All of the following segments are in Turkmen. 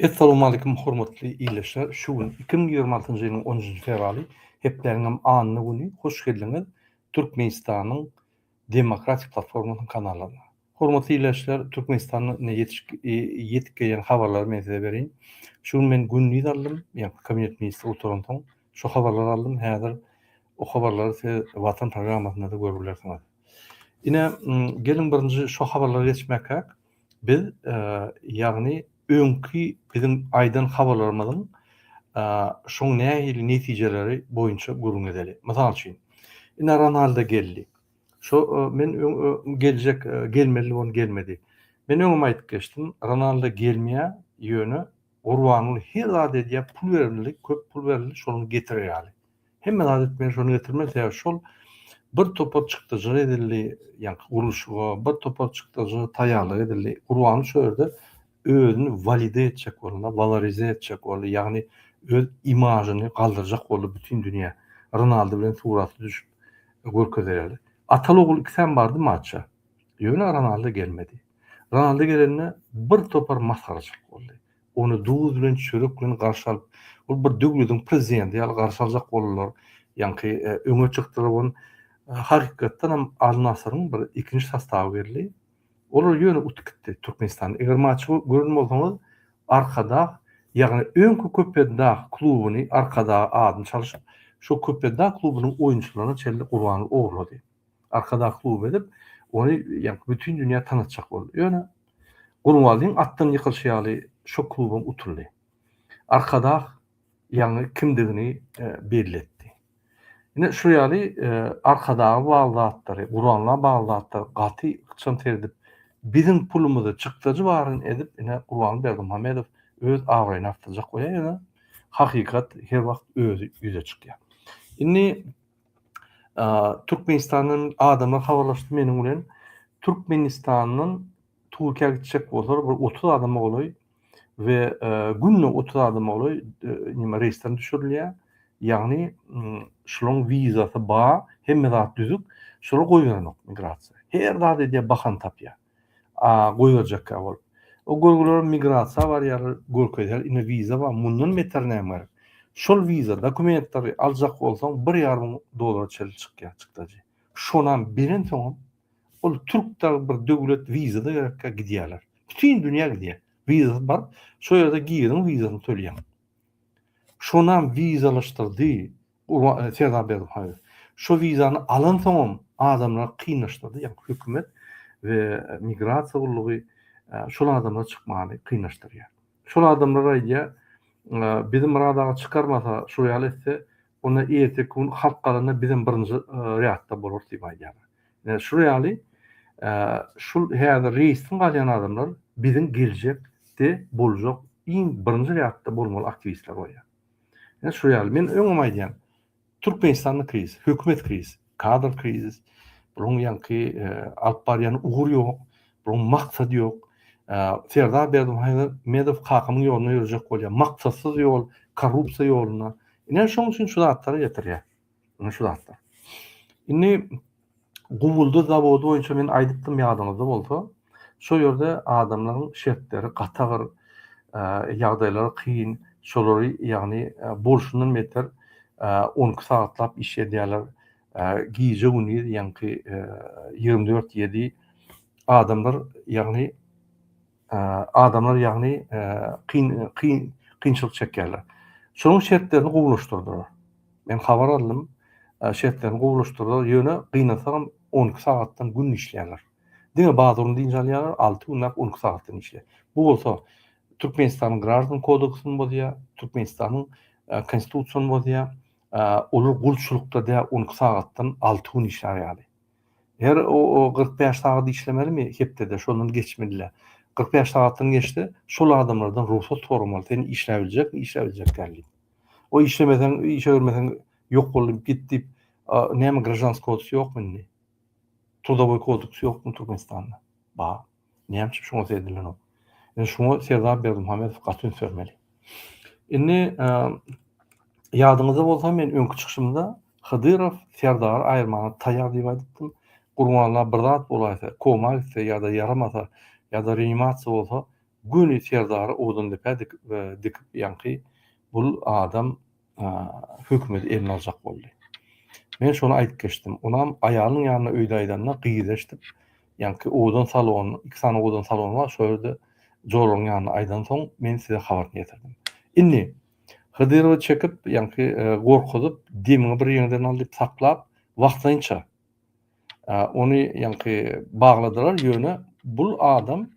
Essalowmalikim hormatly ildeşler şu gün iki müň ýigrimi altynjy ýylyň on üçünji fewraly hepdäniňem anna güni hoş geldiňiz türkmenistanyň demokratik platformasynyň kanallaryna hormatly ildeşler türkmenistanda ine ýetişik ýetip gelýän habarlary men size bereýin şu gün men gündiz aldym ýa kabinet ministri oturansoň şu habarlary aldym häzir o habarlary siz watan programmasynda-da görüp bilersiňiz ine geliň birinji şu habarlary geçmäkäk Biz, ýagny öňki biziň aýdan habarlarymyzyň şoň nähili netijeleri boýunça gürrüň edeli. Mysal üçin, ine Ronaldo geldi. Şo men geljek, gelmeli bolan gelmedi. Men öňem aýdyp geçdim, Ronaldo gelmeýä, ýöne Gurbanguly her zat edýä, pul berildi, köp pul berildi, şonuň getirer ýaly. Hemme zat etmeli şony getirmeli sebäbi şol bir topar çykdajyk edildi ýaňky gurluşyga bir topar çykdajyga taýýarlyk edildi gurbany şu ýerde özüni walide etjek bolanda walorize etjek boldy ýagny öz imažyny galdyrjak boldy bütin dünýä Ronaldo bilen suraty düşüp görkezereli atal ogul ikisem bardy maça ýöne Ronaldo gelmedi Ronaldo gelende bir topar masgaraçylyk boldy Ony duz bilen, çörek bilen garşy alyp, ol bir döwlediň prezidenti ýaly garşy aljak boldular. Ýaňky öňe çykdylar ony hakykatdan hem Al-Nasyryň bir ikinji sastawy geldi. Olar ýöne utup gitdi Türkmenistanda. Eger maçy gören bolsaňyz Arkadag, ýagny öňki Köpetdag klubyny Arkadag adyny çalyşyp, şo Köpetdag klubynyň oýunçylaryny çenli gurbanlyk ogurlady. Arkadag kluby edip, ony ýaňky bütin dünýä tanatjak boldy. Ýöne Gurbanlyň atdan ýykylyşy ýaly şo klubam utuldy. Arkadag ýaňy kimdigini belli etdi. Ine şo ýaly Arkadaga bagly zatlary, Gurbanla bagly zatlary gaty ykjam seredip, biziň pulumyzy çykdajy baryn edip ine Gurbanly Berdimuhamedow öz abraýyny artdyrjak bolýar ýöne hakykat her wagt özi ýüze çykýar. Indi Türkmenistandan adamlar habarlaşdy meniň bilen. Türkmenistandan Türkiýä gitjek bolsalar bir 30 adama golaý we günde 30 adama golaý nima reýsden düşürilýär. Ýagny şolaryň wizasy bar, hemme zat düzük. Şolar goýberenok migrasiýa. Her zat edýär, bahana tapýar. A goýberjekkä bolup. O görgüleri migrasiýa barýar, görkezýär, indi wiza bar, mundan beter näme gerek. Şol wiza, dokumentleri aljak bolsaň bir ýarym müň dollara çenli çykýar çykdajy. Şonam berensoňam ol türk dagy bir döwlet wiza-da gerekkä gidýärler. Bütin dünýä gidýär. Wizasy bar, şo ýerde giriň wizasyny tölýäň. Şonam wizalaşdyrdy, Urban, Serdar Berdimuhamedow şo wizany alansoňam adamlary kynlaşdyrdy, ýagny hökümet we migrasiýa gullugy şol adamlary çykmagyny kynlaşdyrýar. Şol adamlar aýdýar, bizi Myrat aga çykarmasa, şol ýaly etse, onda erteki gün halk galanda bizem birinji rýadda bolarys diýip aýdýarlar. Ine, şul ýaly şul häzir reýsden galýan adamlar biziň geljekde boljak iň birinji rýadda bolmaly aktiwistler bolýar. Ine şu ýaly. Men öňem aýdýan. Türkmenistanda krizis, hökümet krizis, kadr krizis. Bularyň ýaňky alyp barýan ugur ýok. Bularyň maksady ýok. Serdar Berdimuhamedow kakamyň ýoluna ýörejek bolýar. Maksatsyz ýol, korrupsiýa ýoluna. Ine şoň üçin şu zatlara getirýär. Ine şu zatlar. Indi Guwwuldy zawody boýunça men aýdypdym ýadyňyzda bolsa, şo ýerde adamlaryň şertleri gatagyr, ýagdaýlary kyn, şolary ýagny bolşundan beter on iki sagatlap iş edýärler, gije gündiz ýaňky ýigrimi dört ýedi adamlar ýagny adamlar ýagny kyn kyn kynçylyk çekýärler. Şonuň şertlerini gowulaşdyrdylar. Men habar aldym, şertlerini gowulaşdyrdylar, ýöne gynasagam on iki sagatdan gün işleýärler. Diňe bazuny dynç alýarlar, alty günläp on iki sagatdan işleýär. Bu bolsa Türkmenistanyň Graždan kodeksini bozýar, Türkmenistanyň Konstitusiýany bozýar. Olar gulçulykda däl on iki sagatdan alty gün işlär ýaly. Her o kyrk bäş sagat işlemelimi hepdede şondan geçmedile. Kyrk bäş sagatdan geçse şol adamlardan rugsat soramaly sen işläp biljekmi işläp biljek däl diýip. O işlemeseň işe görmeseň ýok boldy git diýip näme gražanski kodks ýokmy indi. Trudowoý kodks ýokmy Türkmenistanda? Bar. Näme üçin şuňa sezilenok? Indi şuňa Serdar Berdimuhamedow gaty üns bermeli. Indi ýadyňyzda bolsa men öňki çykyşymda Hydyrow Serdary aýyrmana taýýar diýip aýdypdym. Gurbanla bir zat bolaýsa, koma gitse ýa-da ýaramasa ýa-da reanimasiýa bolsa, göni Serdary owadan depä dikip ýaňky bu adam hökümeti eline aljak boldy. Men şony aýdyp geçdim. Onam aýalynyň ýanyna öýde aýdanda gyz eşidip, ýaňky owadan salon, iki sany owadan salon bar, şol ýerde joragyň ýanyna aýdansoň, men size habaryny ýetirdim. Indi Hydyrowy çekip, ýaňky e, gorkuzyp, demiňi bir ýeriňden al diýip saklap, wagtlaýynça Ony ýaňky bagladylar, ýöne bul adam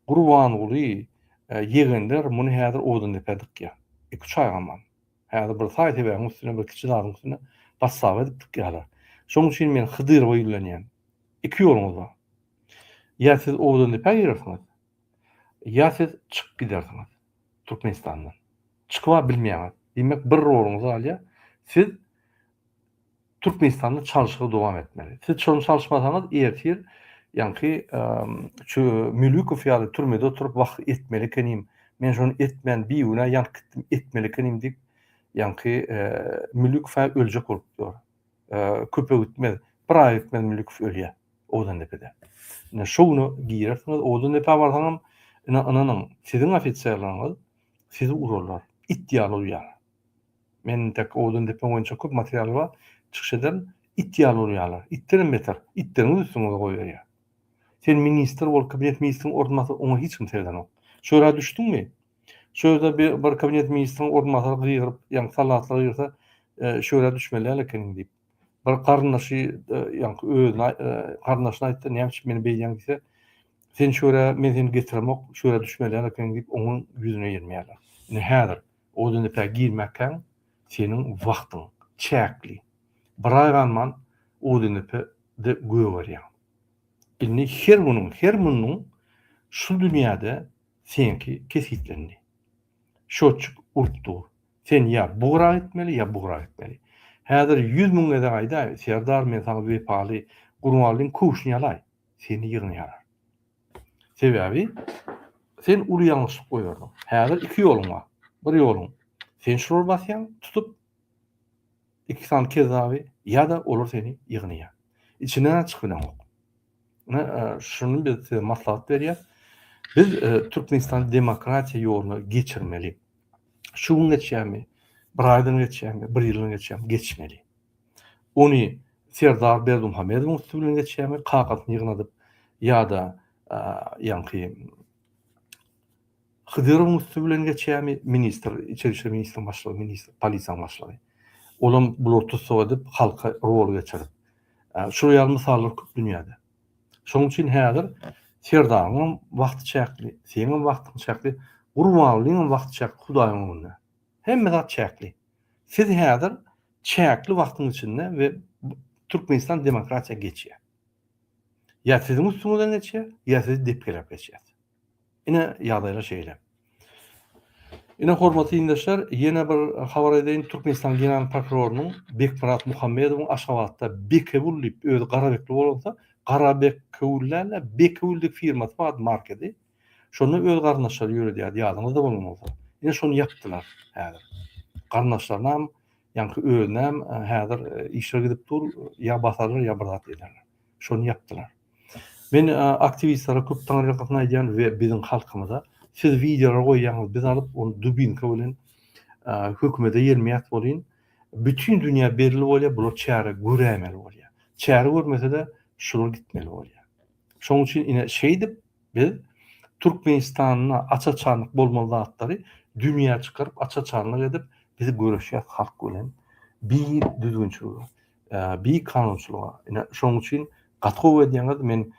Gurbanguly ýegenler muny häzir owadan depä dykýar. Iki-üç aý gaman. Häzir bir saý sebägiň üstüne bir kiçi zadyň üstüne bassaba edip dykýarlar. Şonuň üçin men Hydyrowa ýüzlenýän. Iki ýoluňyz bar. Ýa siz owadan depä girersiňiz, ýa siz çykyp gidersiňiz Türkmenistandan. Çykyba bilmeýäňiz. Diýmek bir roluňyz galýar. Siz Türkmenistanda çalyşygy dowam etmeli. Siz şony çalyşmasaňyz ertir ýaňky şu Mülükow ýaly türmede oturyp wah etmeli ekenim, men şony etmän bigünä ýanyp gitdim etmeli ekenim diýip ýaňky Mülükow-ä öljek bolup dur. Köpe gitmez, bir aýa gitmez Mülükow ölýä Owdandepede. Ine şo güne girersiňiz Owdandepä barsaňam ine ynanyň siziň ofiserleriňiz sizi urarlar, it ýaly uýarlar. Meniň dek owdan depeň boýunça köp material bar. Çykyş ederin, it ýaly urýarlar. Itdenem beter. Itleriňiz üstüňize goýberýär. Sen ministr bol, kabinet ministriň orunbasary, oňa hiç kim seredenok. Şu ýere düşdüňmi? Şu ýerde bir kabinet ministriň orunbasary gygyryp, ýaňky salahata gygyrsa, şu ýere düşmeli däl ekeniň diýip. Bir garyndaşy ýaňky özüne garyndaşyna aýtdy, näme üçin meni beýdýäň diýse, sen şu ýere, men seni getiremok, şu ýere düşmeli däl ekeniň diýip, oňuň ýüzüne ýermeýärler. Indi häzir Odinepä girmäkäň seniň wagtyň çäkli. Bir aý galman Odinepe-de gögerýäň. Indi her günüň, her munnuň şu dünýäde seňki kesgitlendi. Şotçik urup dur. Sen ýa bu gyra gitmeli, ýa bu gyra gitmeli. Häzir ýüz müň gezek aýdaý, Serdar, men saňa wepaly, Gurbangulyň köwşüni ýalaý, seni ýygnaýarlar. Sebäbi sen uly ýalňyşlyk goýberdiň. Häzir iki ýoluň bar. Bir ýoluň, sen şulary basýaň, tutup, iki sany kezzaby, ýa-da olar seni ýygnaýar. Içinden aç bileňok. Ine, şuny biz size maslahat berýäs. Biz Türkmenistany demokratiýa ýoluna geçirmeli. Şu gün geçýärmi, bir aýdan geçýärmi, bir ýyldan geçýärmi, geçmeli. Ony Serdar Berdimuhamedowyň üsti bilen geçýärmi, kakasyny ýygnadyp ýa-da ýaňky Hydyrowyň üsti bilen geçýärmi, ministr, içeri işler ministriň başlygy, ministr, polisiýanyň başlygy. Olam bulary tussag edip, halka rol geçirip. Şular ýaly mysallar köp dünýäde. Şonuň üçin häzir Serdaryň hem wagty çäkli, seniň hem wagtyň çäkli, Gurbangulyň hem wagty çäkli Hudaýyň öňünde. Hemme zat çäkli. Siz häzir çäkli wagtyň içinde we Türkmenistan demokratiýa geçýär. Ýa siziň üstüňizden geçýär, ýa sizi depgeläp geçýär. Ine ýagdaýlar şeýle. Ine hormatly ildeşler, ýene bir habar edeýin, Türkmenistan general prokurorynyň Bekmyrat Muhammedowyň Aşgabatda Bekewül diýip özi Garabekli bolansoň, Garabekewül däl-de Bekewül diýip firmasy bar, markady. Şonda öz garyndaşlary ýöredýärdi, ýadyňyzda bolmasa. Ine şony ýapdylar häzir. Garyndaşlarynam, ýaňky özünem häzir işler gidip dur, ýa basarlar, ýa bir zat ederler. Şony ýapdylar. Men aktiwistlere köp taňyrýalkasyn aýdýan we biziň halkymyza siz wideolar goýýaňyz, biz alyp ony dubinka bilen hökümede ýermeýäs welin, bütin dünýä belli bolýar, bular çäre göräýmeli bolýar. Çäre görmese-de, şular gitmeli bolýar. Şonuň üçin ine şeýdip, Biz Türkmenistanda aç-açanlyk bolmaly zatlary dünýä çykaryp aç-açanlyk edip biz göreşýäs halk bilen bi düzgünçilige bi kanunçylyga ine şoň üçin gaty gowy edýäňiz men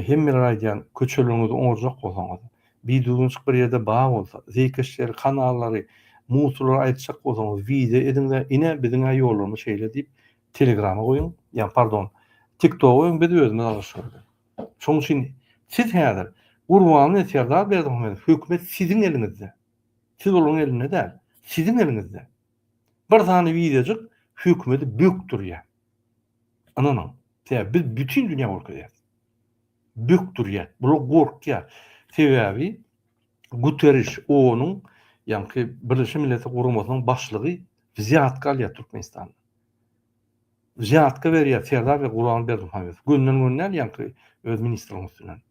hemmelere aýdýan köçeleriňizi oňarjak bolsaňyz bi düzgünçilik bir ýerde bar bolsa zeýkeşleri kanallary muslary aýyrtjak bolsaňyz wideo ediňde ine biziňä ýollarymyz şeýle diýip telegrama goýuň ýa pardon tiktoga goýuň biz özümiz alyşyrys. Şonuň üçin siz häzir Gurbanguly Serdar Berdimuhamedow hökümet siziň eliňizde. Siz olaryň elinde däl. Siziň eliňizde. Bir sany wideojyk hökümeti bökdürýär. Ynanyň. Sebäbi biz bütin dünýä görkezýäris. Bökdürýär. Bular gorkýar. Sebäbi Guteriş onuň ýaňky Birleşen Milletler Guramasynyň başlygy wzýatka alýar Türkmenistanda. Zýadka berýär Serdar we Gurban Berdimuhamedow. Günden gün däl ýaňky öz ministriň üstünden.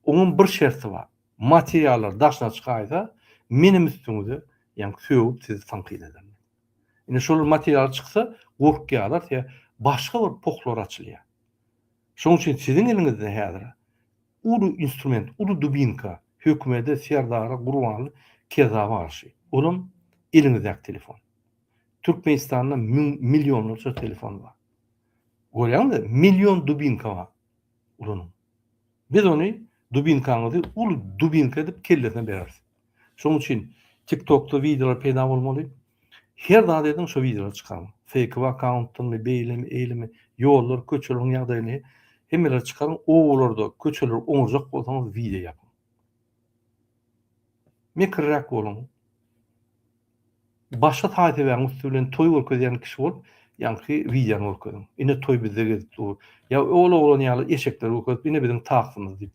Oňam bir şerti bar. Materiallar daşyna çykaýsa, menem üstüňize ýaňky sögüp sizi tankyt edermen. Indi şolar materialy çyksa, gorkýarlar size başga bir pohlar açylýar. Şonuň üçin siziň eliňizde häzir uly instrument, uly dubinka, hökümede, Serdara, Gurbana kezzaba garşy. Olam eliňizdäki telefon. Türkmenistanda millionlarça telefon bar. Görýäňizmi? Million dubinka bar. Ulanyň. Biz ony dubinkaňyzy uly dubinka edip kellesine bereris. Şonuň üçin TikTokda wideolar peýda bolmaly. Her zat ediň şu wideolary çykaryň. Fake akkauntdanmy, beýlemi, eýlemi, ýollar, köçeleriň ýagdaýyny hemmeleri çykaryň. Owalarda köçeleri oňarjak bolsaňyz wideo ýapyň. Mekirräk boluň. Başga taý-tebaň üsti bilen toý görkezýän kişi bolup, ýaňky wideony görkeziň. Ine toý bizde gezip dur. Ýa ol oglan ýaly eşekleri görkezip, ine biziň taksymyz diýip.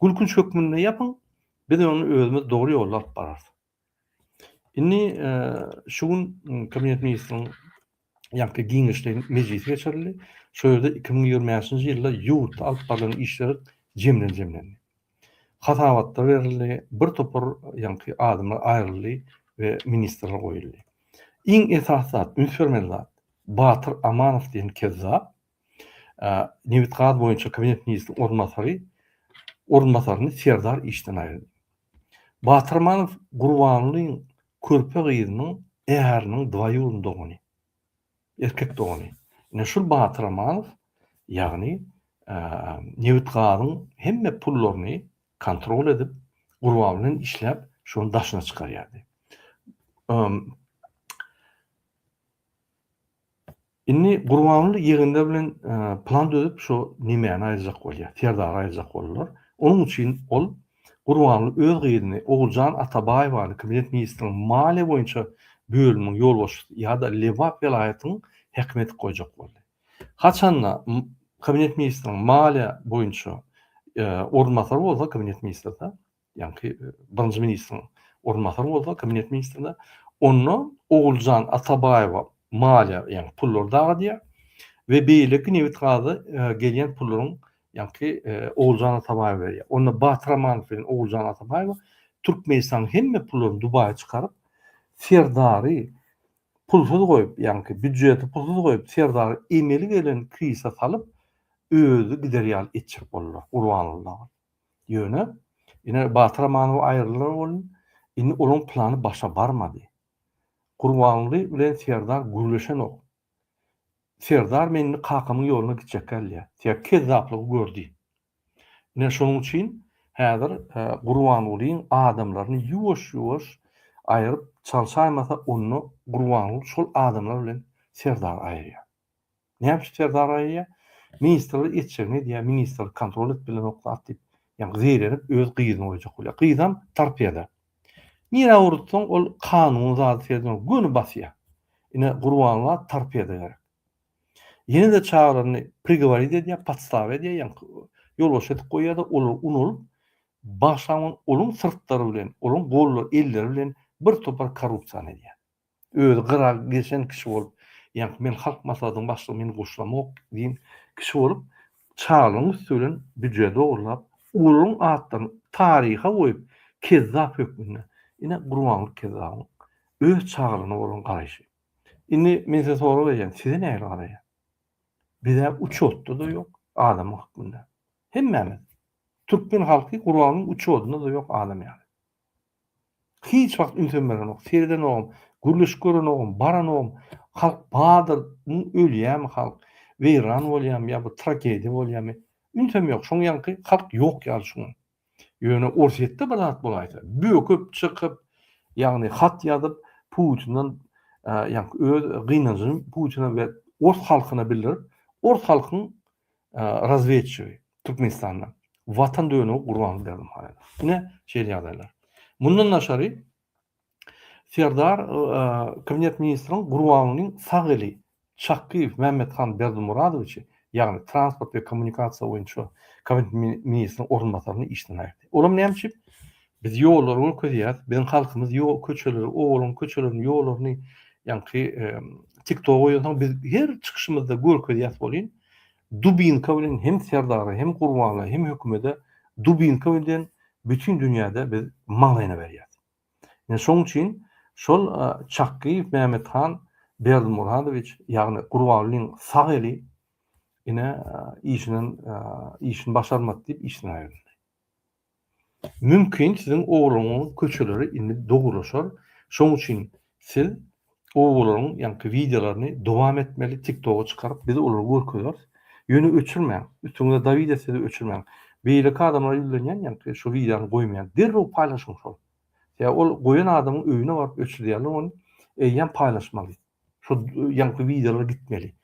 Gülkünç hökmünde ýapyň, biz ony özümiz dogry ýolda alyp bararys. Indi şu gün Kabinet ministriniň ýaňky giňişleýin mejlisi geçirildi. Şol ýerde iki müň ýigrimi bäşinji ýylda ýurtda alyp barlan işler jemden jemlendi. Hasabatlar berildi, bir topar ýaňky adamlar aýryldy we ministrler goýuldy. Iň esasy zat, üns bermeli zat, Batyr Amanow diýen kezzap, nebitgaz boýunça kabinet ministriniň orunbasary orunbasaryny Serdar işden aýyrdy. Batyrmanow Gurbanlyň körpe gyzynyň äriniň dwaýurny dogany, erkek dogany. Ine şul Batyrmanow, ýagny nebitgazyň hemme pullaryny kontrol edip, Gurban bilen işläp, şony daşyna çykarýardy. Indi Gurbanguly ýygyndy bilen plan düzüp şo Nimäni aýyrjak bolýar, Serdary aýyrjak boldular. Onuň üçin ol Gurbanguly öz gyzyny Oguljan Atabaýewany Kabinet ministriniň maliýe boýunça bölüminiň ýolbaşçysy ýa-da Lebap welaýatynyň häkimi edip goýjak boldy. Haçanda Kabinet ministriniň maliýe boýunça orunbasary bolsa Kabinet ministrde ýaňky birinji ministriň orunbasary bolsa kabinet ministrine, onda Oguljan Atabaýewa maliýa, ýagny pullary dagadýar we beýleki nebit-gaza gelýän pullaryň ýaňky Oguljan Atabaýewa berýär. Onda Batyr Amanow bilen Oguljan Atabaýewa Türkmenistanyň hemme pullaryny Dubaýa çykaryp, Serdary pulsuz goýup, ýaňky býudjeti pulsuz goýup, Serdary emeli gelen krizise salyp, özi gider ýaly etjek boldular, Gurbanguly dagy. Ýöne, ine, Batyr Amanow aýrylar boldy. Indi olaň plany başa barmady. Gurbanguly bilen Serdar gürleşenok. Serdar men indi kakamyň ýoluna gitjekgä diýýär. Sebäbi kezzaplygy gördi. Ine, şonuň üçin häzir Gurbangulyň adamlaryny ýuwaş-ýuwaş aýryp çalşaýmasa, onda Gurbanguly şol adamlar bilen Serdary aýyrýar. Näme üçin ter daraýýar? Ministrler etjegini edýär, ministrler kontrol edip bilenoklar diýip, ýa zeýrenip öz gyzyny goýjak bolýar. Gyzam torpeda. Nirä ugratsaň ol kanunyň zady seredýän göni basýar. Ine Gurbangula torpeda gerek. Ýene-de çagalaryny prigoworit edýär, podstawa edýär, ýaňky ýolbaşçy edip goýýar-da, olar unalyp bagşaňyň onuň syrtlary bilen, onuň gollary, elleri bilen bir topar korrupsiýany edýär. Özi gyra geçen kişi bolup, Ýaňky men Halk Maslahatynyň başlygy, meni goşlamok diýen kişi bolup, çaglaryň üsti bilen büje dogrulap, olaryň atlaryny taryha goýup, kezzap hökmünde. Ine, Gurbanguly kezzabyň öz çagalaryna bolan garaýşy. Indi men size sorag berýän, size nähili garaýar? Biz-ä uçotda-da ýok, adam hökmünde. Hemmämiz. Türkmen halky Gurbangulyň uçodynda-da ýok, adam ýaly. Hiç wagt ünsem berenok, seredenogam, gürleşik görenogam, baranogam. Halk bardyr, ýa ölýämi halk, weýran bolýamy, ýa bir tragediýa bolýamy. Ünsem ýok. Şoň ýaňky halk ýok ýaly şuňa. Ýöne Orsýetde bir zat bolaýsa, böküp, çykyp, ýagny hat ýazyp, Putinden ýaňky öz gynanjyny Putine we ors halkyna bildirip, ors halkyň razwedçigi, Türkmenistanda Watan dönügi Gurbanguly Berdimuhamedow. Ine, şeýle ýagdaýlar. Mundan daşary Serdar kabinet ministriň Gurbangulynyň sag eli Çakgyýew Mämmethan Berdimuradowiçi, ýagny transport we kommunikasiýa boýunça kabinet ministriň orunbasaryny işden aýyrdy. Olam näme üçin? Biz ýollary görkezýäris, biziň halkymyz ýol köçeleri, obalyň köçelerini, ýollaryny ýaňky TikToga goýansoň biz her çykyşymyzda görkezýäs welin, Dubinka bilen hem serdara hem gurbana hem hökümede dubinka bilen bütin dünýäde biz maňlaýyna berýäs. Ine şoň üçin şol Çakgyýew Mämmethan Berdimuradowiç ýagny Gurbangulyň sag eli ine işinden işini başarmady diýip işden aýryldy. Mümkin siziň ogluňyň köçeleri indi dogrulaşar, şoň üçin siz owalarň ýaňky wideolaryny dowam etmeli tiktoga çykaryp biz olary görkezeris, ýöne öçürmäň, üstüňize Dawida sizi öçürmäň, beýleki adamlara ýüzlenýän ýaňky şu wideony goýmaýan derrew paýlaşyň şol, ýa ol goýan adamyň öýüne baryp öçürdýärler ony eýýäm paýlaşmalys. Şu ýaňky wideolar gitmeli.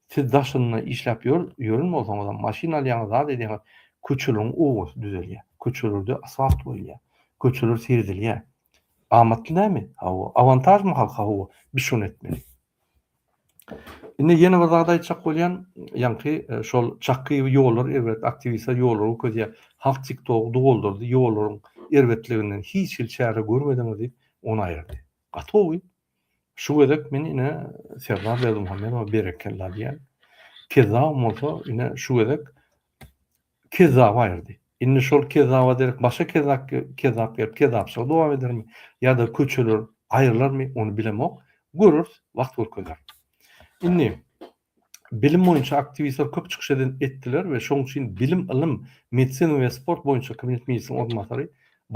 Siz daşynda işläp ýör, ýören bolsaňyzam, maşyn alýaňyz, zat edýäňiz, köçeleriň owazy düzelýär. Köçelerde asfalt goýulýar. Köçeler seredilýär. Amatly näme? Hawa, awantažmy halka? Hawa, biz şony etmeli. Indi ýene bir zat aýtjak bolýan, ýaňky e, şol Çakyýew ýollar erbet, aktiwistler ýollar ködýär. Halk TikTok doldurdy ýollaryň erbetliginden hiç hil çäre görmediňiz diýip, ony aýyrdy. Gaty gowy. Şu gezek men ine Serdar Berdimuhamedowa berekella diýýän. Kezzabym bolsa ine şu gezek kezzap aýyrdy. Indi şol kezzaba derek başga kezzap kezzap gelip kezzapçylygy dowam edermi ýa-da köçeler aýrylarmy ony bilemok. Göreris, wagt görkezer. Indi Bilim boýunça aktiwistler köp çykyş etdiler we şoň üçin bilim, ylym, medisina we sport boýunça kabinet ministriniň orunbasary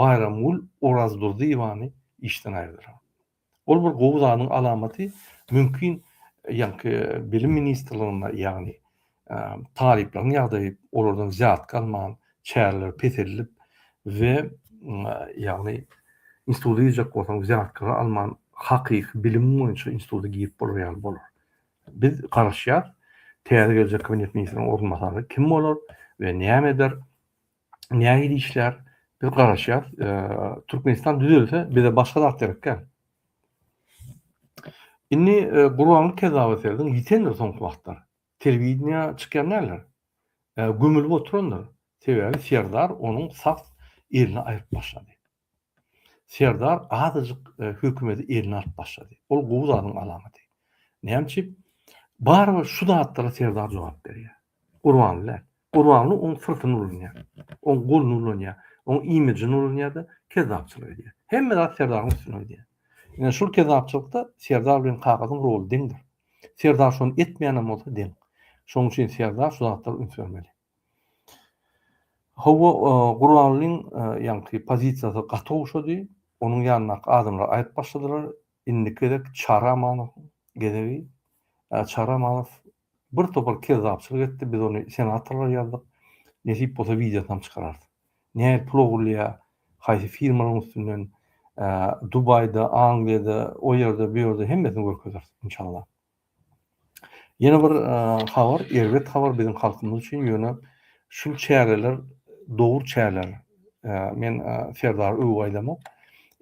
Baýramgül Orazdurdyýewany işden aýyrdylar. Ol bir gowy zadyň alamaty, mümkin ýaňky bilim ministrliginde ýagny talyplaryň ýagdaýy olardan zýadka alman çäreler peseldip we ýagny instituta girjek bolsaň zýadkara alman hakyky bilim boýunça instituta girip bolar ýaly bolar. Biz garaşýas, täze geljek kabinet ministriniň orunbasary kim bolar we näme eder, nähili işlär, biz garaşýas. Türkmenistan düzelse, bize başga zat gerek däl. Indi Gurbanguly kezzaba serediň, ýitendir soňky wagtlar. Telewideniýa çykýan däldir. Gömülip oturandyr. Sebäbi Serdar onuň sag elini aýryp başlady. Serdar azajyk hökümeti eline alyp başlady. Ol gowy zadyň alamaty. Näme üçin? Barybir şu zatlara Serdar jogap berýär. Gurbanguly däl. Gurbanguly oň syrtyny ulanýar. Oň goluny ulanýar. Oň imijini ulanýar-da, kezzapçylyk edýär. Hemme zat Serdaryň üstüne gidýär. Ine, şul kezzapçylykda Serdar bilen Kakadyň roly deňdir. Serdar şony etmeýänem bolsa deň. Şonuň üçin Serdar şu zatlara üns bermeli. Hawa, Gurbangulyň ýaňky pozisiýasy gaty ogşady. Onuň ýanyndaky adamlar aýdyp başladylar, Indiki gezek Çary Amanowyň gezegi. Çary Amanow birtopar kezzapçylyk etdi, biz ony senatorlara ýazdyk. Nesip bolsa wideosynam çykararys. Nähili pul ogurlaýar, haýsy firmalaryň üstünden, Dubaýda, Angliýada, o ýerde, bu ýerde hemmesini görkezeris, inşallah. Ýene bir habar, erbet habar biziň halkymyz üçin, ýöne şul çäreler dogry çäreler. Men Serdary öwüp aýdamok.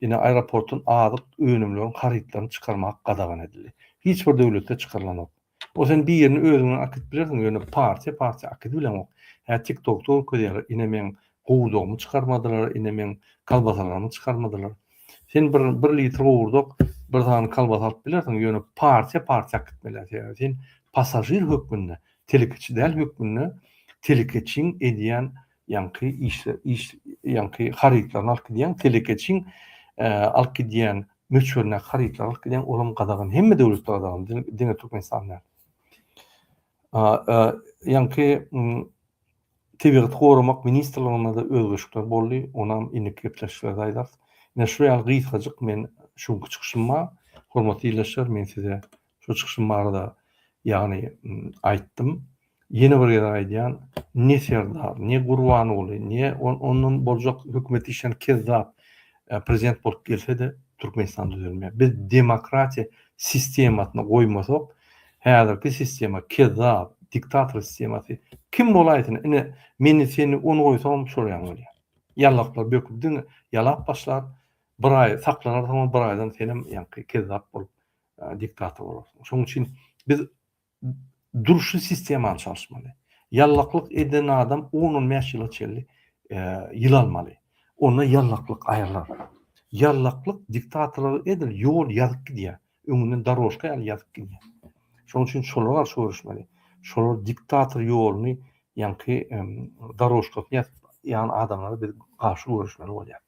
Ine aeroportdan azyk önümleriň harytlaryny çykarmak gadagan edildi. Hiç bir döwletde çykarylanok. Ol sen birini özüň bilen akyt bilersiň, ýöne partiýa partiýa akyt bileňok. Hä tiktokda görkezýärler, ine meň gowudygymy çykarmadylar, ine meň kalbasalarymy çykarmadylar. Sen bir bir litr gowurdak, bir sany kolbasa alyp bilersiň, ýöne partiýa partiýa gitmeli. Sebäbi sen passažir hökmünde, telekeçi däl hökmünde telekeçiň edýän ýaňky işle iş ýaňky harytlaryny alyp gidýäň, telekeçiň alyp gidýän möçberine harytlary alyp gidýäň, olam gadagan, hemme döwletde gadagan, diňe Türkmenistanda. Ýaňky Tebigaty goramak ministrliginde-de özgerişikler boldy, onam indiki gepleşiklerde aýdarys. Ine, şu ýaly gysgajyk men şu günki çykyşym bar. Hormatly ildeşler, men size şu çykyşym barada, ýagny, aýtdym. Ýene bir gezek aýdýan, ne Serdar, ne Gurbanguly, ne ondan boljak hökümet işleýän kezzap prezident bolup gelse-de, Türkmenistan düzelmeýär. Biz demokratiýa sistemasyny goýmasak, Häzirki sistema kezzap, diktator sistemasy. Kim bolaýsyn, ine, meni, seni, ony goýsagam şol ýaňy bolýar. Ýallaklap böküp diňe ýalap başlar, bir aý saklanarsyň, ol bir aýdan senem ýaňky kezzap bolup diktator bolarsyň. Şonuň üçin biz durşy sistemany çalyşmaly. Ýallaklyk eden adam on-on bäş ýyla çenli ýyl almaly. Onda ýallaklyk aýrylar. Ýallaklyk diktatorlyga edil ýol ýazyp gidýär. Öňünden darožka ýaly ýazyp gidýär. Şonuň üçin şolara garşy göreşmeli. Şolar diktator ýoluny, ýaňky darožkasyny ýazyp ýan adamlara biz garşy göreşmeli bolýar.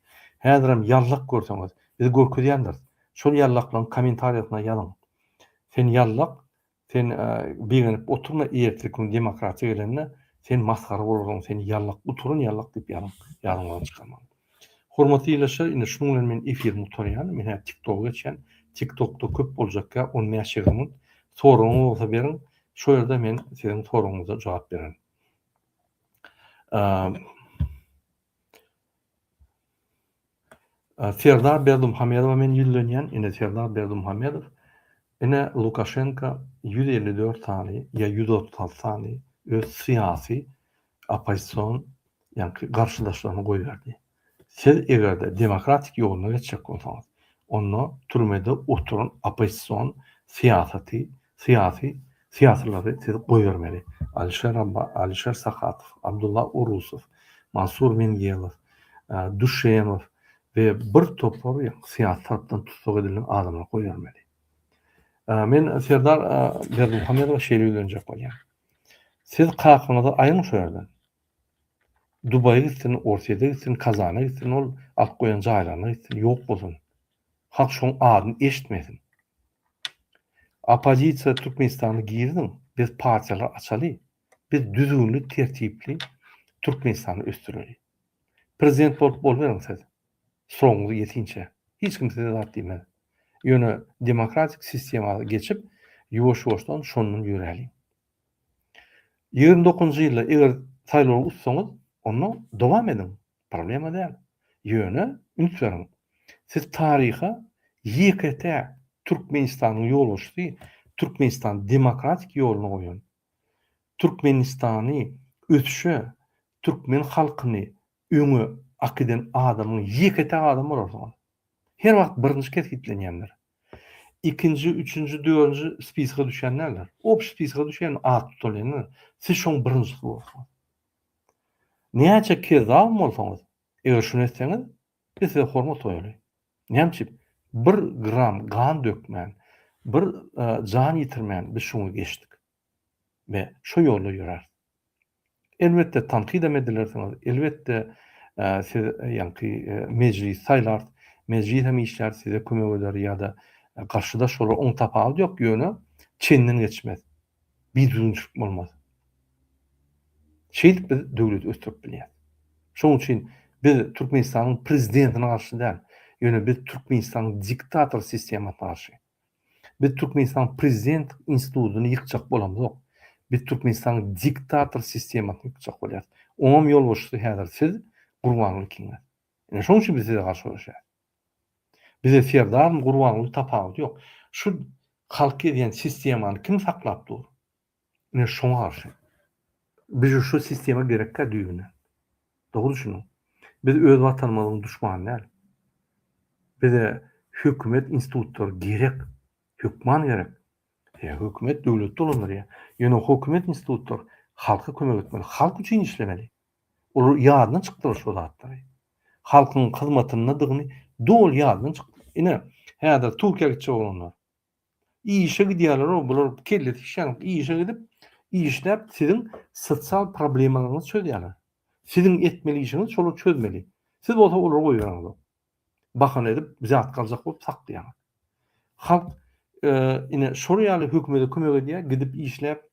Häzirem ýallak görseňiz, biz görkezýändiris. Şol ýallaklaryň kommentariýasyna ýazyň. Sen ýallak, Sen begenip oturma erteki gün demokratiýa gelende sen masgara bolaryň sen ýallak guturan ýallak diýip ýazyň ýazyň ony çykarmaň. Hormatly ýylaşlar indi şunuň bilen men efirimi gutarýan men häzir tik toga geçýän tik tokda köp boljak gäp on bäş ýigrimi minut soragyňyz bolsa beriň şo ýerde men siziň soragyňyza jogap bererin. Serdar Berdimuhamedowa men ýüzlenýän, ine Serdar Berdimuhamedow, ine Lukaşenka ýüz elli dört sany ýa ýüz otuz alty sany öz syýasy oppozision ýaňky garşydaşlaryny goýberdi. Siz eger-de demokratik ýoluna geçjek bolsaňyz, onda türmede oturan oppozision syýasaty Syýasy syýasylary siz goýbermeli. Alişer Abba, Alişer Sahatow, Abdulla Urusow, Mansur Mingelow, Duşemow we bir topar ýaňky syýasy tarapdan tussag edilen adamlary goýbermeli. Men Serdar Berdimuhamedowa şeýle ýüzlenjek bolýan. Siz kakaňyzy aýyň şu ýerden. Dubaýa gitsin, Orsýede gitsin, Kazana gitsin, ol alyp goýan jaýlaryna gitsin, ýok bolsun. Halk şoň adyny eşitmesin. Oppozisiýa Türkmenistanda girsin, biz partiýalary açaly, biz düzgünli tertipli Türkmenistany ösdüreli. Prezident bolup boluberiň siz, srogyňyz ýetinçä, hiç kim size zat diýmez. Ýöne demokratik sistema geçip, ýuwaş-ýuwaşdan şondan ýöräliň. Ýigrimi dokuzynjy ýylda eger saýlawa utsaňyz, onda dowam ediň, Problema däl. Ýöne üns beriň, siz taryha ýeke-täk Türkmenistanyň ýolbaşçysy Türkmenistany demokratik ýoluna goýan, Türkmenistany ösüşe, türkmen halkyny öňe akiden adamyň ýeke-täk adam bolarsyňyz. Her wagt birinji kesgitlenýänler. Ikinji, üçünji, dördünji spiska düşýän däldir. Obşy spiska düşýän, at tutalýanlar. Siz şoň birinjisi bolarsyňyz. Näçe kezzabam bolsaňyz, eger şuny etseňiz, biz size hormat goýaly. Näme üçin? Bir gram gan dökmän, bir jan ýitirmän biz şuňa geçdik we şo ýolda ýöräris. Elbetde, tankydam edilersiňiz, elbetde, siz ýaňky mejlisi saýlaryz, mejlis hem işlär, size kömek eder ýa-da garşydaş bolar, onuň tapawudy ýok, ýöne çenden geçmez. Bir düzgünçilik bolmasa. Şeýdip biz döwleti ösdürip bilýäris. Şonuň üçin biz Türkmenistanyň prezidentine garşy däl, ýöne biz Türkmenistanyň diktator sistemasyna garşy. Biz Türkmenistanyň prezident institutyny ýykjak bolamzok. Biz Türkmenistanyň diktator sistemasyny ýykjak bolýarys. Oňam ýolbaşçysy häzir siz, Gurbanguly ikiňiz. Ine şonuň üçin biz size garşy göreşýäris. Bize Serdarmy Gurbanguly tapawudy ýok. Şu halk gezýän sistemany kim saklap dur? Ine şoňa garşy. Biz şu sistema gerekkä düýbünden. Dogry düşüniň. Biz öz watanymyzyň duşmany däl. Bize hökümet institutlary gerek. Hökman gerek. Sebäbi hökümet döwleti dolandyrýar. Ýöne hökümet institutlary halka kömek etmeli. Halk üçin işlemeli. Ol ýadyna çykdyr şo zatlary. Halkyň hyzmatyndadygyny doly ýadyna çyk. Ine, häzir Türkiýä gitjek oglanlar. Işe gidýärler-ow, bular kellesi işýänok. Işe gidip, işläp siziň sosial problemalaryňyzy çözýärler. Siziň etmeli işiňiz şolar çözmeli. Siz bolsa olary goýbereniňizok. Bahana edip, zat galjak bolup saklaýaňyz. Halk, ine, şolar ýaly hökümede kömek edýär, gidip işläp,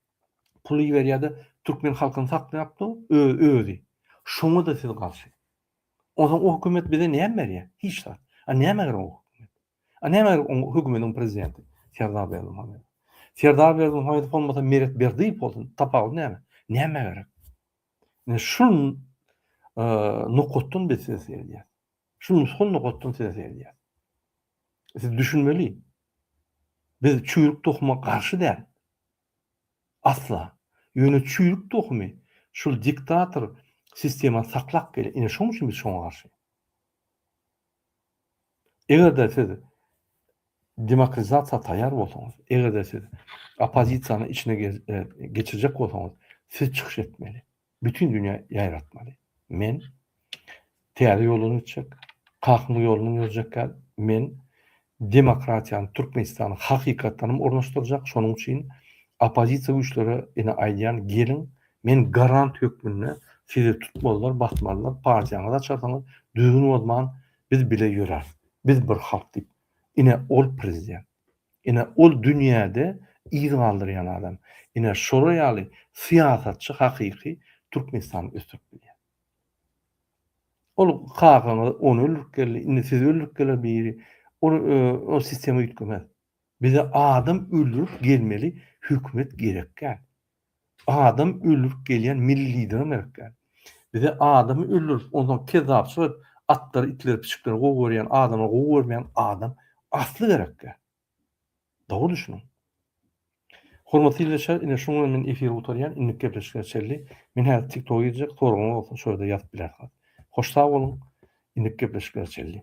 puly iberýärde türkmen halkyny saklaýapdyr özi şoňada siz garşy onsoň o hökümet bize näme berýär hiç zat a näme gerek o a näme gerek o hökümetiň prezidenti serdar berdimuhamedow serdar berdimuhamedow bolmasa meret berdiýew bolsun tapawudy näme näme gerek ine şul nokatdan biz ses berýäs Şu nusga lugtdan size seredýäs. Siz düşünmeli. Biz çüýrük tohuma garşy däl. Asla. Ýöne çüýrük tohumy şul diktator sistemany saklap gelýär. Ine şoň üçin biz şoňa garşy. Eger-de siz demokratizasiýa taýýar bolsaňyz, eger-de siz oppozisiýany içine geçirjek bolsaňyz, siz çykyş etmeli. bütin dünýä ýaýratmaly. Men täze ýoldan gitjek, Kakyň ýolundan ýörjekkäl, men demokratiýany Türkmenistana hakykatdanam ornaşdyrjak, şonuň üçin oppozisiýa güýçlere ine aýdýan, geliň, men garant hökmünde sizi tutmalylar, basmalylar, partiýaňyzy açarsyňyz, düzgün bozman biz bile ýöräris, biz bir halk diýip, ine ol prezident, Ine ol dünýäde yz galdyrýan adam. Ine şolar ýaly syýasatçy hakyky Türkmenistany ösdürip bilýär. Ol kakaňyz ony öldürip geldi, indi sizi öldürip geler biri. Ol ol sistema üýtgemez. Bize adam öldürip gelmeli hökümet gerekgä. Adam öldürip gelýän milli lideriň gerek däl. Bize adamy öldürip onsoň kezzapçylyk edip atlary itleri pişikleri gowy görýän adama gowy görmeýän adam asly gerek däl. Dogry düşüniň. Hormatly ýyldeşler ine şunuň bilen men efiri gutarýan indiki gepleşikler çenli men häzir tik toga girjek soragyňyz bolsa şo ýerde ýazyp bilersiňiz. Hoş sag boluň indiki gepleşikler çenli.